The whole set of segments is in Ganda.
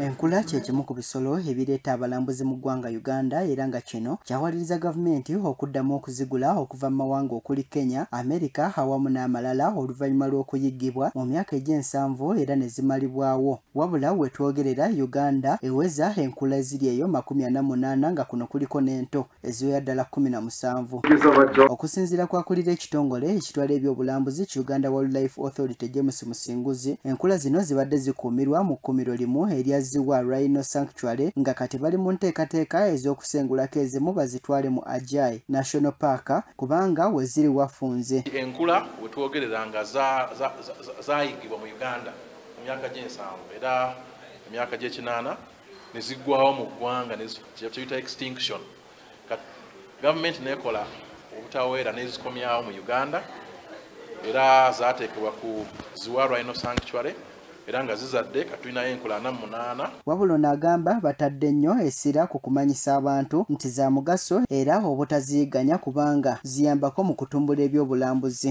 Enkula kye kimu ku bisolo ebireeta abalambuzi mu ggwanga Uganda era nga kino kyawaliriza gavumenti okuddamu okuzigula okuva mu mawanga okuli Kenya, Amerika awamu n'amalala oluvannyuma lw'okuyiggibwa mu myaka egy'ensanvu era ne zimalibwawo. Wabula we twogerera Uganda eweza enkula eziri eyo makumi ana munaana nga kuno kuliko n'ento. eziwera ddala kumi na musanvu okusinziira kwakulira ekitongole ekitwala ebyobulambuzi ki uganda wildlife authority james musinguzi enkula zino zibadde zikuumirwa mu kkumiro limu erya ziwa rhino sanctuary nga kati bali mu nteekateeka ez'okusengulako ezimu bazitwale mu ajai national park kubanga weziri wafunze enkula wetwogerera nga zayigibwa mu uganda mu myaka gy'ensanvu era emyaka gy'ekinaana ne ziggwawo mu ggwanga kyeyita extinction gavumenti nekola obutaweera nezikomyawo mu uganda era zateekebwa ku ziwa rhino sanctuary era nga zizadde katulinayo enkulana munaana wabula ono agamba batadde nnyo essira ku kumanyisa abantu nti za mugaso era obutaziyiganya kubanga ziyambako mu kutumbula ebyobulambuzi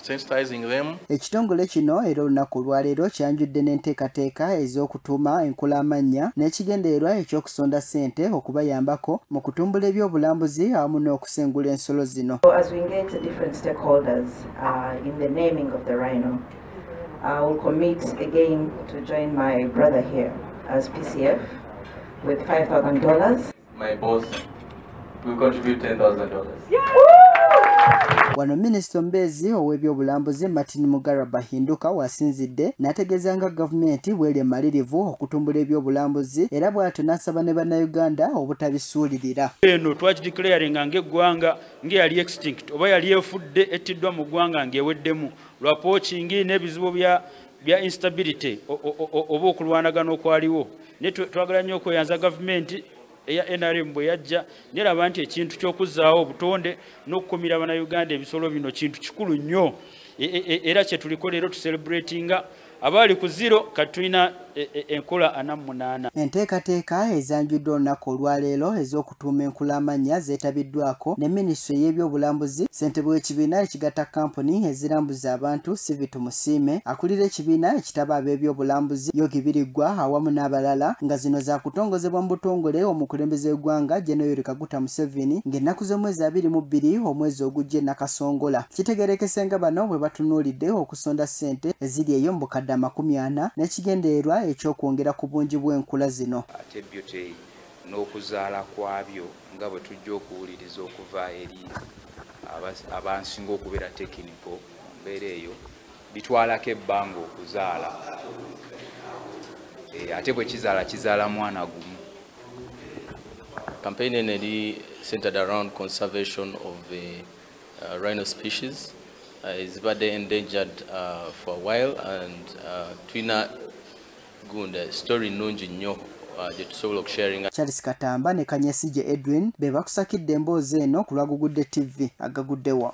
Ekitongole kino era olunaku olwaleero kyanjudde n'enteekateeka ez'okutuuma enkula amannya n'ekigendererwa eky'okusonda ssente okubayambako mu kutumbula ebyobulambuzi awamu n'okusengula ensolo zino. Uh, My boss will contribute $10,000. Wano minisita omubeezi ow'ebyobulambuzi Martin Mugara Bahinduka wasinzidde n'ategeeza nga gavumenti bw'eri emalirivu okutumbula ebyobulambuzi era bw'atyo n'asaba ne bannayuganda obutabisuulirira. Eno twakideclaringa ng'eggwanga ng'eyali extinct oba yali efudde ettiddwa mu ggwanga ng'eweddemu lwa pookingi n'ebizibu bya bya instability oba okulwanagana okwaliwo naye twagala nnyo okweyanza gavumenti eya nrm bwe yajja neraba nti ekintu ky'okuzzaawo obutonde n'okukumira bannayuganda ebisolo bino kintu kikulu nnyo e, e, e, era kyetuliko leero tucelebratinga abaali ku ziro kati tulina enkola ana munaana enteekateeka ezanjuddwa olunaku olwaleero ez'oku okutuuma enkula amannya zeetabiddwako ne minisitule y'ebyobulambuzi, ssentebe w'ekibiina ekigatta kkampuni ezirambuza abantu Sivi Tumusiime, akulira ekibiina ekitaba ab'ebyobulambuzi Yogi Biriggwa awamu n'abalala nga zino zaakutongozebwa mu butongole omukulembeze w'eggwanga Gen Yoweri Kaguta Musevini ng'ennaku z'omwezi abiri mu bbiri omwezi ogujja e Nakasongola. Kitegeerekese nga bano bwe batunuulidde okusonda ssente eziri eyo mu bukadde amakumi ana n'ekigendererwa eky'okwongera ku bungi bw'enkula zino. Ate Beauty n'okuzaala kwabyo nga bwe tujja okuwuliriza okuva eri abansinga okubeera tekiniko mu mbeera eyo bitwalako ebbanga okuzaala eh, ate bwe kizaala kizaala mwana gumu campaign eno eri centered around conservation of the uh, rhino species uh, ezibadde endangered uh, for a while and uh, tulina Gunda, eh, story nungi nnyo gyetusobola uh, okusharinga. Charles Katamba ne Kanyesigye Edwin be bakusakidde emboozi eno ku lwa Gugudde TV agaguddewa.